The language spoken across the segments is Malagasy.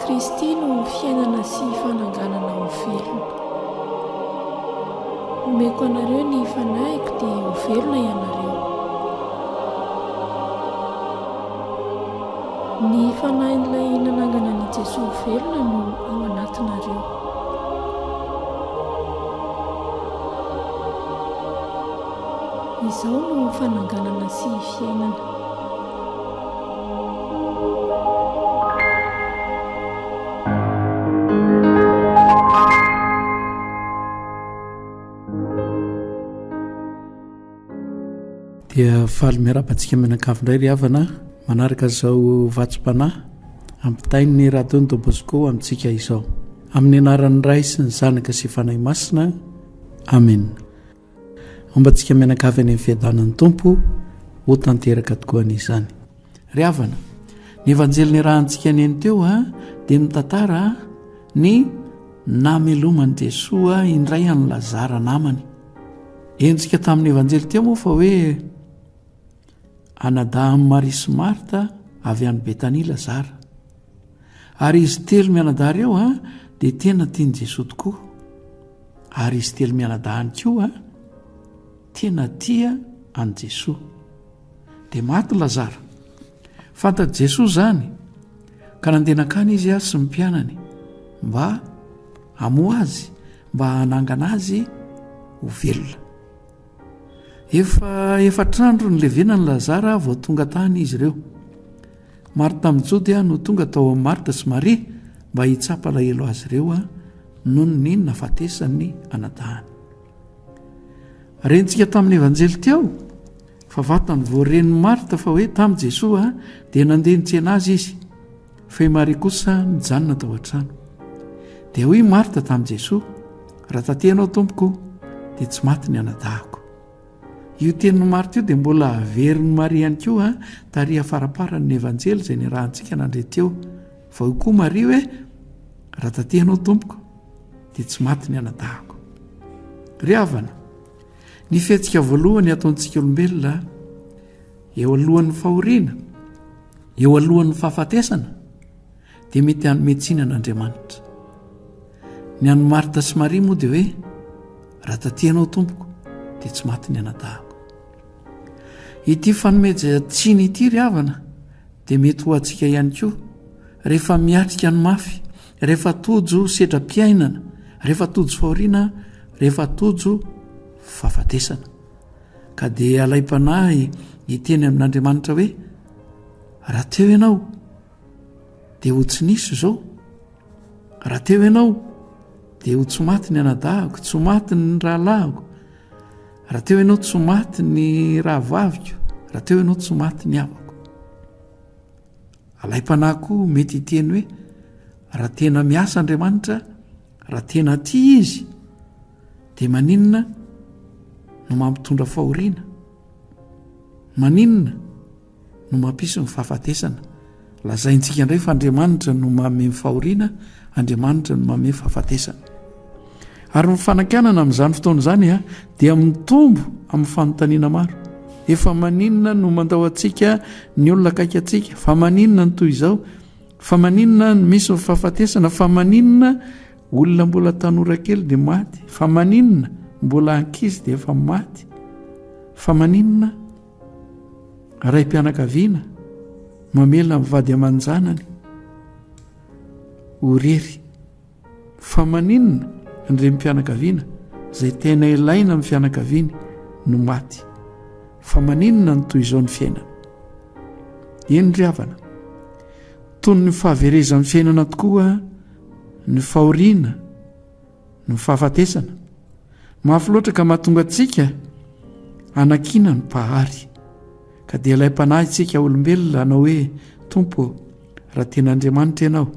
Kristy no fiainana sy fananganana ho velona. Omeko anareo ny fanahiko dia ho velona ianareo. Ny Fanahin'ilay nanangana an'i Jesoa ho velona no ao anatinareo. Izao no fananganana sy fiainana. Dia faly miarahaba antsika mianakavy indray ry havana manaraka izao vatsim-panahy ampitain'ny Radon Don Bosco amintsika izao. Amin'ny anaran'ny Ray sy ny Zanaka sy Fanahy Masina. Amen. Ombantsika mianakavy any amin'ny fiadanan'ny Tompo ho tanteraka tokoa an'izany. Ry havana, ny Evanjely niarahantsika nino teo dia mitantara ny nameloman'i Jesoa indray an'i Lazara namany. Henontsika tamin'ny Evanjely teo moa fa hoe anadahin'i Maria sy Marta avy any Betania Lazara. Ary izy telo mianadahy ireo dia tena tian'i Jesoa tokoa. Ary izy telo mianadahy ihany koa tena tia an'i Jesoa. Dia maty Lazara. Fantatr'i Jesoa izany, ka nandeha nankany Izy sy ny mpianany, mba hamoha Azy, mba hanangana Azy ho velona. Efa efatr'andro nilevenan'i Lazara vao tonga tany izy ireo. Marta amin'i Jodia no tonga tao amin'i Marta sy Maria mba hitsapa alahelo azy ireo noho ny nahafatesan'ny anadahany. Rentsika tamin'ny Evanjely teo Fa vantany vao ren'i Marta fa hoe tamin'i Jesoa dia nandeha nitsena azy izy, fa i Maria kosa nijanona tao an-trano. Dia hoy i Marta tamin'i Jesoa, Raha taty Ianao, Tompoko, dia tsy maty ny anadahiko. Io tenin'i Marta io dia mbola averin'i Maria ihany koa, tary afaramparan'ny Evanjely izay niarahantsika nandre teo. Fa hoy koa Maria hoe, Raha taty Ianao, Tompoko, dia tsy maty ny anadahiko. Ry havana, Ny fihetsika voalohany ataontsika olombelona eo alohan'ny fahoriana, eo alohan'ny fahafatesana dia mety hanome tsiny an'Andriamanitra. Ny an'i Marta sy Maria moa dia hoe raha tatianao tompoko dia tsy maty ny anadahako. Ity fanomezana tsiny ity ry havana dia mety ho antsika ihany koa rehefa miatrika ny mafy rehefa tojo sedra-piainana, rehefa tojo fahoriana, rehefa tojo fahafatesana. Ka dia alaim-panahy hiteny amin'Andriamanitra hoe, raha teo ianao, dia ho tsy nisy izao. Raha teo ianao, dia ho tsy maty ny anadahako, tsy maty ny rahalahiko. Raha teo ianao, tsy maty ny rahavaviko. Raha teo ianao, tsy maty ny havako. Alaim-panahy koa mety hiteny hoe, Raha tena miasa Andriamanitra, raha tena tia Izy, dia maninona no mampitondra fahoriana? Maninona no mampisy ny fahafatesana? Lazaintsika indray fa Andriamanitra no manome ny fahoriana, Andriamanitra no manome fahafatesana. Ary ny fanakianana amin'izany fotoana izany dia mitombo amin'ny fanontaniana maro. Efa maninona no mandao antsika ny olona akaiky antsika? Fa maninona ny toy izao? Fa maninona no misy ny fahafatesana? Fa maninona olona mbola tanora kely dia maty? Fa maninona mbola ankizy dia efa maty? Fa maninona raim-pianakaviana mamela ny vady aman-janany ho rery? Fa maninona ny renim-pianakaviana izay tena ilaina amin'ny fianakaviany no maty? Fa maninona no toy izao ny fiainana? Eny ry havana, toy ny fahaverezan'ny fiainana tokoa ny fahoriana, ny fahafatesana. Mafy loatra ka mahatonga antsika hanakiana ny Mpahary. Ka dia ilay Mpanahintsika olombelona hanao hoe, Tompo ô, raha tena Andriamanitra Ianao,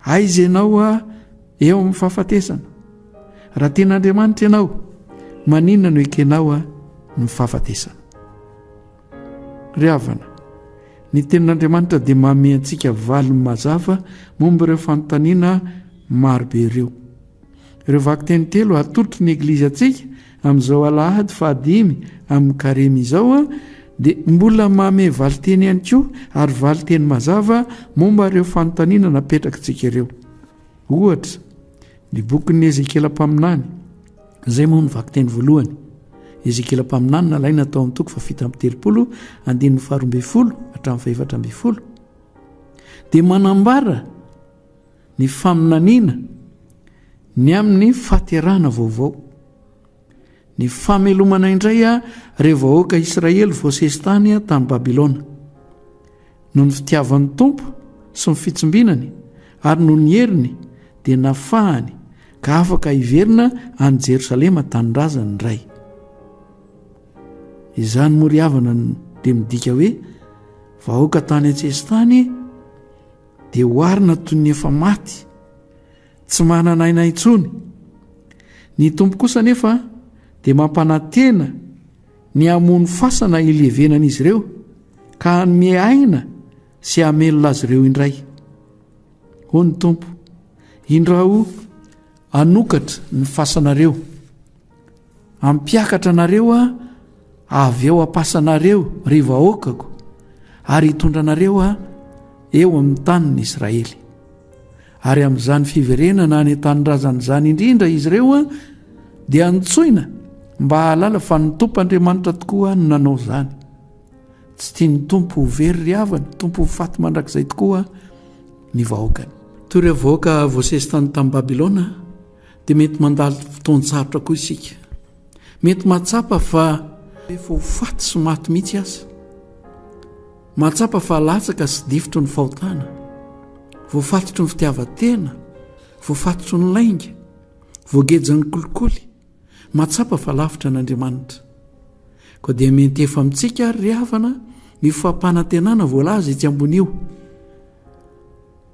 Aiza ianao a eo amin'ny fahafatesana? Raha tian'Andriamanitra ianao, maninona no ekenao a ny fahafatesana? Ry havana, ny tenin'Andriamanitra dia manome antsika valiny mazava momba ireo fanontaniana marobe ireo. Ireo vakiteny telo atolotry ny Eglizy antsika amin'izao Alahady fahadimy amin'ny Karemy izao dia mbola mamehy valinteny ihany koa ary valinteny mazava momba ireo fanontaniana napetrakitsika ireo. Ohatra, ny bokin'i Ezekiela Mpaminany, izay moa no vakiteny voalohany. Ezekiela Mpaminany nalaina tao amin'ny toko fahafito amby telopolo, andininy faharoa ambin'ny folo hatramin'ny fahefatra ambin'ny folo, dia manambara ny faminaniana ny amin'ny fahaterahana vaovao, ny famelomana indray ireo vahoaka Israely voasesy tany tany Babylona. Noho ny fitiavan'ny Tompo sy ny fitsimbinany ary noho ny heriny dia nafahany ka afaka hiverina any Jerosalema tanindrazany ny Ray. Izany moa ry havana dia midika hoe vahoaka tany an-tsesitany Dia oharina toy ny efa maty, tsy manana aina intsony. Ny Tompo kosa anefa dia mampanantena ny hamono fasana hilevenan'izy ireo ka hanome aina sy hamelona azy ireo indray. Hoy ny Tompo, Indrao hanokatra ny fasanareo. Hampiakatra anareo aho avy eo am-pasanareo, ry vahoakako, ary hitondra anareo aho eo amin'ny tanin'i Israely. Ary amin'izany fiverenana any an-tanindrazana izany indrindra izy ireo dia antsoina mba hahalala fa ny Tompo Andriamanitra tokoa no nanao izany. Tsy tia ny Tompo ho very ry havana, Tompo ho faty mandrakizay tokoa ny vahoakany. Toy ireo vahoaka voasesy tany tamin'i Babylona, dia mety mandalo fotoan-tsarotra koa isika. Mety mahatsapa fa efa ho faty sy maty mihitsy aza. Mahatsapa fa latsaka sy difotry ny fahotana, voafatotry ny fitiavan-tena, voafatotry ny lainga, voagejan'ny kolikoly, mahatsapa fa lavitra an'Andriamanitra. Koa dia miantefa amintsika ary ry havana io fampanantenana voalaza etsy ambony io.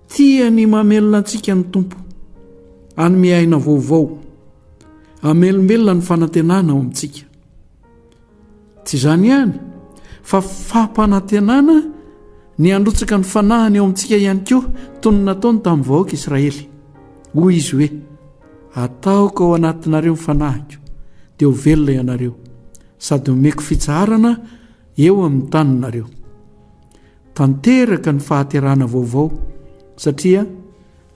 Tia ny mamelona antsika ny Tompo, hanome aina vaovao, hamelombelona ny fanantenana ao amintsika. Tsy izany ihany, fa fampanantenana ny handrotsaka ny fanahiny ao amintsika ihany koa, toy ny nataony tamin'ny vahoaka Israely. Hoy izy hoe, Ataoko ao anatinareo ny fanahiko, dia ho velona ianareo, sady omeko fitsaharana eo amin'ny taninareo. Tanteraka ny fahaterahana vaovao satria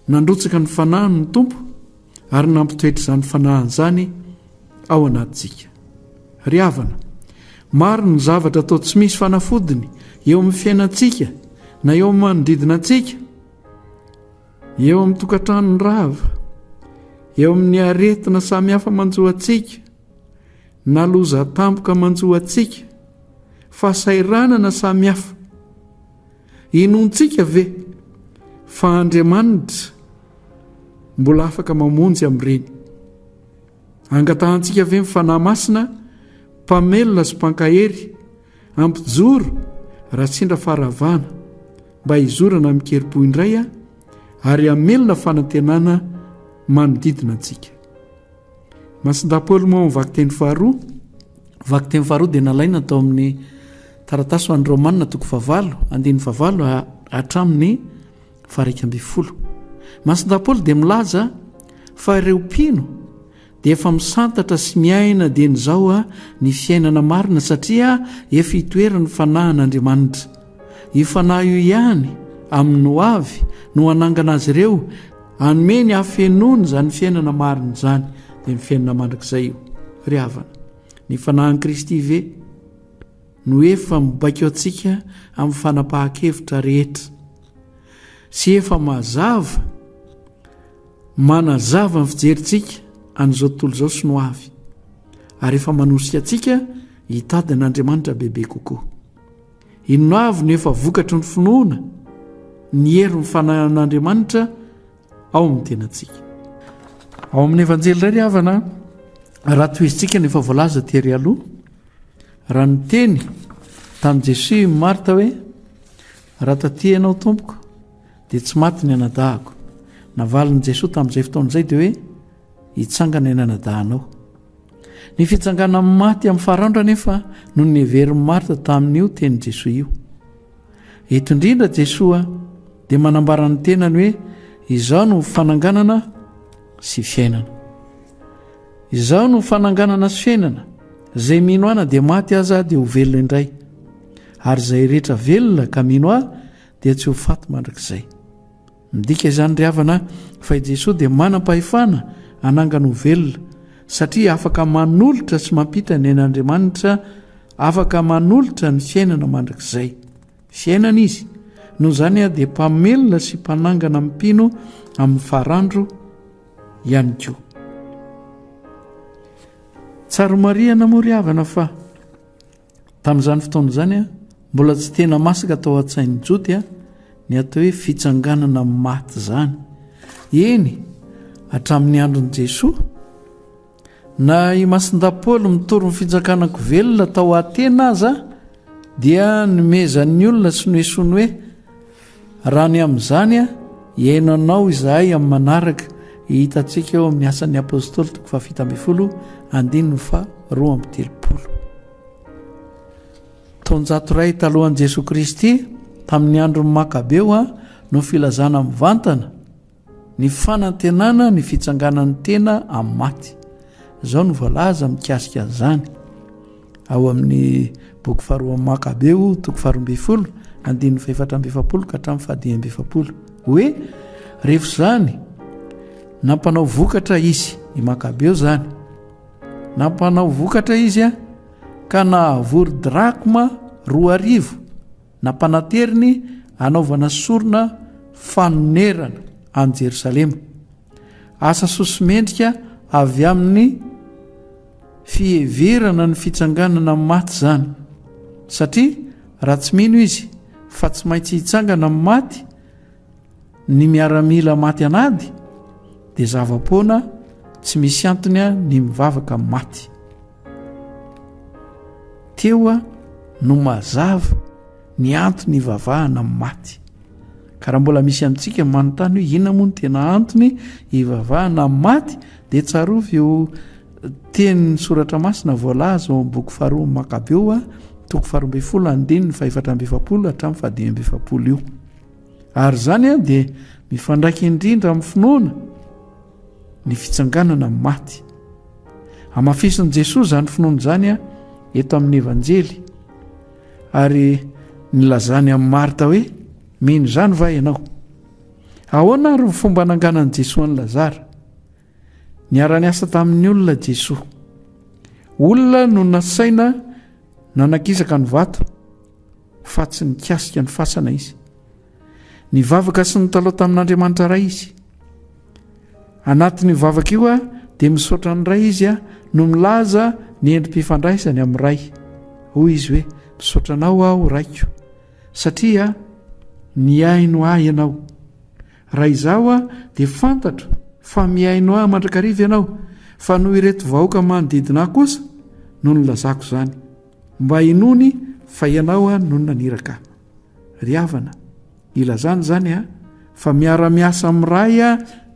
nandrotsaka ny fanahiny ny Tompo ary nampitoetra izany fanahiny izany ao anatintsika. Ry havana, maro ny zavatra toa tsy misy fanafodiny eo amin'ny fiainantsika na eo amin'ny manodidina antsika, eo amin'ny tokantranony rava, eo amin'ny aretina samihafa manjo antsika, Na loza tampoka manjo antsika, fahasahiranana samihafa, inoantsika ve fa Andriamanitra mbola afaka mamonjy amin'ireny? Angatahantsika ve ny Fanahy Masina Mpamelona sy Mpankahery hampijoro raha sendra faharavana mba hizorana amin-kerim-po indray ary hamelona fanantenana manodidina antsika? Masindahy-Paoly moa ao amin'ny vakiteny faharoa, vakiteny faharoa dia nalaina tao amin'ny taratasy ho an'ny Raomanina toko fahavalo, andininy fahavalo hatramin'ny faharaika ambin'ny folo. Masindahy-Paoly dia milaza fa ireo mpino dia efa misantatra sy miaina dieny izao ny fiainana marina satria efa itoeran'ny fanahin'Andriamanitra. Io fanahy io ihany, amin'ny hoavy, no hanangana azy ireo, hanome ny hafenoany izany fiainana marina izany, dia ny fiainana mandrakizay io. Ry havana, ny fanahin'i Kristy ve no efa mibaiko antsika amin'ny fanapahan-kevitra rehetra sy efa mazava manazava ny fijerintsika an'izao tontolo izao sy ny ho avy, ary efa manosika antsika hitady an'Andriamanitra bebe kokoa. Inona avy no efa vokatry ny finoana ny herin'ny fananan'Andriamanitra ao amin'ny tenantsika? Ao amin'ny Evanjely iray ry havana, raha tohezintsika ny efa voalaza tery aloha, raha niteny tamin'i Jesoa i Marta hoe, raha taty ianao tompoko, dia tsy maty ny anadahako. Navalin'i Jesoa tamin'izay fotoana izay dia hoe, hitsangana ny anadahanao. Ny fitsangana amin'ny maty amin'ny faraondra anefa no niheverin'i Marta tamin'io tenin'i Jesoa io. Eto indrindra Jesoa dia manambara ny tenany hoe izao no fananganana sy fiainana. Izao no fananganana sy fiainana, izay mino ana dia maty aza dia ho velona indray, ary izay rehetra velona ka mino ahy dia tsy ho faty mandrakizay. Midika izany ry havana fa i Jesoa dia manam-pahefana hanangana ho velona, satria afaka manolotra sy mampita ny ain'Andriamanitra, afaka manolotra ny fiainana mandrakizay. Fiainana Izy, noho izany dia mpamelona sy mpanangana mpino amin'ny farandro ihany koa. Tsara homarihana moa ry havana fa. Tamin'izany fotoana izany, mbola tsy tena masaka tao an-tsain'ny Jody ny atao hoe fitsanganana amin'ny maty izany. Eny, hatramin'ny andron'i Jesoa, na i Masindahy Paoly mitory ny fitsanganako velona tao Atena aza dia nomezan'ny olona sy noesoiny hoe Raha ny amin'izany hihaino anao izahay amin'ny manaraka, hitantsika eo amin'ny Asan'ny Apôstôly toko fahafito ambin'ny folo andininy faharoa amby telopolo. Taonjato iray talohan'i Jesoa Kristy, tamin'ny andron'ny Makabeo, no filazana mivantana, Ny fanantenana ny fitsanganan'ny tena amin'ny maty. Izao no voalaza mikasika an'izany ao amin'ny boky faharoan'ny Makabeo, toko faharoa ambin'ny folo, andininy fahefatra amby efapolo ka hatramin'ny fahadimy amby efapolo. Hoe rehefa izany nampanao vokatra izy, i Makabeo izany, nampanao vokatra izy ka nahavory drakma roa arivo. Nampanateriny hanaovana sorona fanonerana an'i Jerosalema, asa soso-mendrika avy amin'ny fiheverana ny fitsanganana maty izany, satria raha tsy mino izy fa tsy maintsy hitsangana maty, Ny miaramila maty an'ady dia zava-poana tsy misy antony a ny mivavaka maty teo a no mazava ny antony ivavahana maty ka raha mbola misy amintsika manontany hoe inona moa ny tena antony ivavahana maty dia tsarovy eo tenin'ny soratra masina voalaza ao amin'ny boky faharoa makabeo a toko faharoa ambin'ny folo andininy fahefatra amby efapolo hatramin'ny fahadimy amby efapolo io Ary izany dia mifandraika indrindra amin'ny finoana ny fitsanganana amin'ny maty. Hamafisin'i Jesoa izany finoana izany eto amin'ny Evanjely ary nilazany amin'i Marta hoe mino izany va ianao? Ahoana ary ny fomba nanganan'i Jesoa an'i Lazara? Niara-niasa tamin'ny olona Jesoa. Olona no nasaina nanakisaka ny vato fa tsy nikasika ny fasana Izy. Nivavaka sy nitalaho tamin'Andriamanitra Ray Izy. Anatin'io vavaka io dia misaotra ny Ray Izy no milaza ny endri-pifandraisany amin'ny Ray. Hoy Izy hoe, Misaotra Anao aho, Raiko, satria nihaino ahy Ianao. Raha izaho aho dia fantatro fa mihaino ahy mandrakariva ianao fa noho ireto vahoaka manodidina ahy kosa no nilazako izany mba hinoany fa ianao no naniraka ahy. Ry havana, ilazana izany an fa miara-miasa amin'ny Ray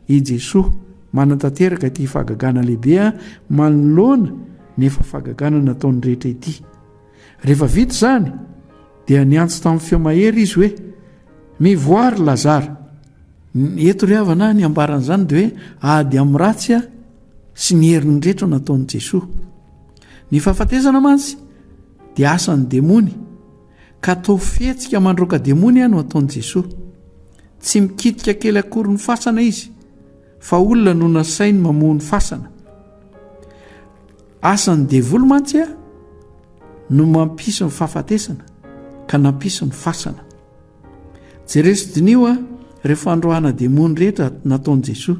i Jesoa, manatanteraka ity fahagagana lehibe manoloana ny efa fahagagana nataony rehetra ity. Rehefa vita izany, dia niantso tamin'ny feo mahery izy hoe, Mivoaha ry Lazara! Ny eto ry havana, ny ambaran'izany dia hoe ady amin'ny ratsy a sy ny heriny rehetra no nataon'i Jesoa. Ny fahafatesana mantsy dia asan'ny demony, ka toa fihetsika mandroaka demony a no ataon'i Jesoa. Tsy mikitika kely akory ny fasana izy, fa olona no nasainy mamoha ny fasana. Asan'ny devoly mantsy a no mampisy ny fahafatesana ka nampisy ny fasana. Jereho sy diniho a reo fandroahana demony rehetra nataon'i Jesoa.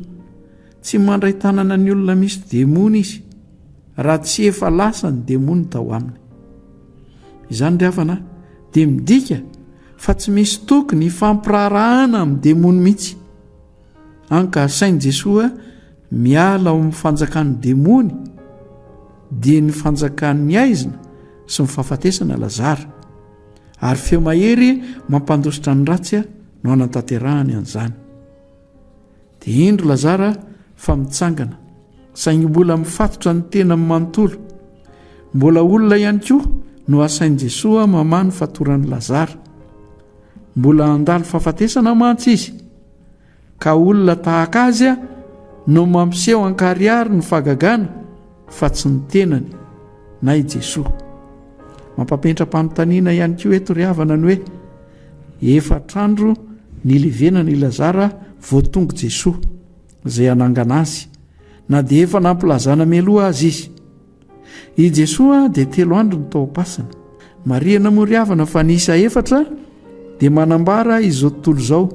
Tsy mandray tanana ny olona misy demony izy raha tsy efa lasa ny demony tao aminy. Izany ry havana a dia midika fa tsy misy tokony hifampiraharahana amin'ny demony mihitsy. Hany ka asain'i Jesoa miala ao amin'ny fanjakan'ny demony, dia ny fanjakan'ny haizina sy ny fahafatesana Lazara. Ary feo mahery mampandositra ny ratsy no hanatanterahany an'izany. Dia indro Lazara fa mitsangana, saingy mbola mifatotra ny tenany manontolo. Mbola olona ihany koa no asain'i Jesoa mamaha ny fatoran'i Lazara. Mbola handalo fahafatesana mantsy izy. Ka olona tahaka azy no mampiseho ankarihary ny fagagana fa tsy ny tenany na i Jesoa. Mampapetra-panontaniana ihany koa eto ry havana ny hoe efatr'andro nilevenana i Lazara vao tonga Jesoa izay hanangana azy na dia efa nampilazana mialoha aza izy. I Jesoa dia telo andro no tao am-pasana. Marihana moa ry havana fa ny isa efatra dia manambara izao tontolo izao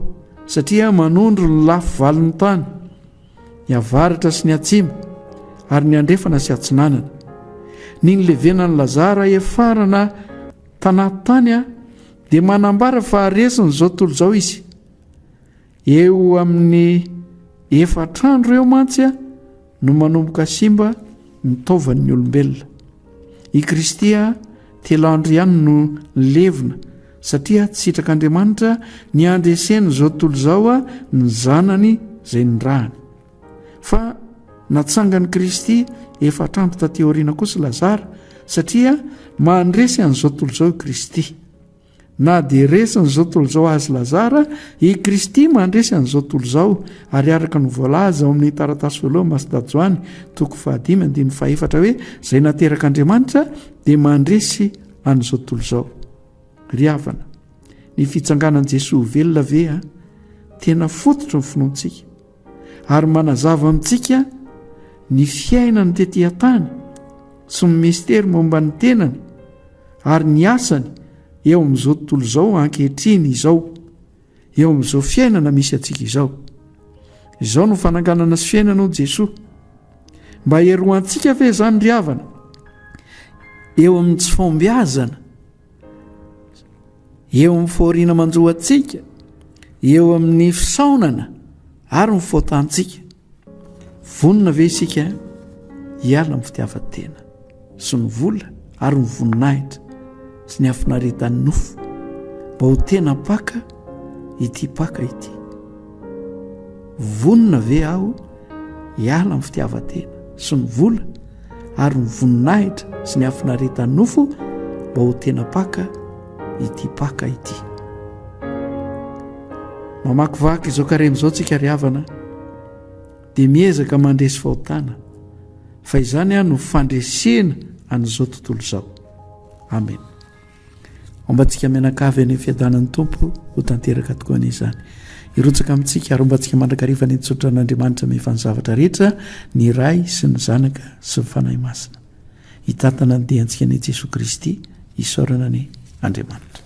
satria manondro ny lafy valon'ny tany, ny avaratra sy ny atsimo ary ny andrefana sy atsinanana. Ny nilevenan'i Lazara hefarana tanaty tany dia manambara fa resin'izao tontolo izao izy. Eo amin'ny efatra andro eo mantsy no manomboka simba ny taovan'ny olombelona. I Kristy telo andro ihany no nilevina satria tsy sitrak'Andriamanitra ny handresen'izao tontolo izao ny Zanany izay nirahany. Fa natsangan'i Kristy efatra andro taty aoriana kosa Lazara satria mandresy an'izao tontolo izao i Kristy. Na dia resin'izao tontolo izao azy Lazara, i Kristy mandresy an'izao tontolo izao, ary araka ny voalaza ao amin'ny taratasy voalohany Masidà Joany, toko fahadimy andininy fahefatra hoe, izay naterak'Andriamanitra dia mandresy an'izao tontolo izao. Ry havana, ny fitsanganan'i Jesoa ho velona ve a, tena fototry ny finoantsika? ary manazava amintsika ny fiainany tety an-tany sy ny mistery momba ny tenany ary ny asany eo amin'izao tontolo izao ankehitriny izao eo amin'izao fiainana misy antsika izao izao no fananganana sy fiainana ao Jesoa mba heroantsika ve izany ry havana eo amin'ny tsy fombiazana eo amin'ny fahoriana manjo antsika, eo amin'ny fisaonana ary ny faotantsika. Vonona ve isika hiala amin'ny fitiavan-tena sy ny vola ary ny voninahitra sy ny hafinaretan'ny nofo mba ho tena mpaka ity mpaka ity? Vonona ve aho hiala amin'ny fitiavan-tena sy ny vola ary ny voninahitra sy ny hafinaretan'ny nofo mba ho tena paka ity paka ity. Mamakivaky izao karemy izao tsika ry havana dia miezaka mandresy fahotana fa izany aho no fandresena an'izao tontolo izao. Amen. Hombantsika mianakavy any fiadanan'ny Tompo ho tanteraka tokoa any izany. Hirotsaka amintsika ary hombantsika mandrakariva ny tsotra an'Andriamanitra mihefa ny zavatra rehetra, ny Ray sy ny Zanaka sy ny Fanahy Masina. Hitantana ny diantsika ny Jesoa Kristy, isaorana ny Andriamanitra.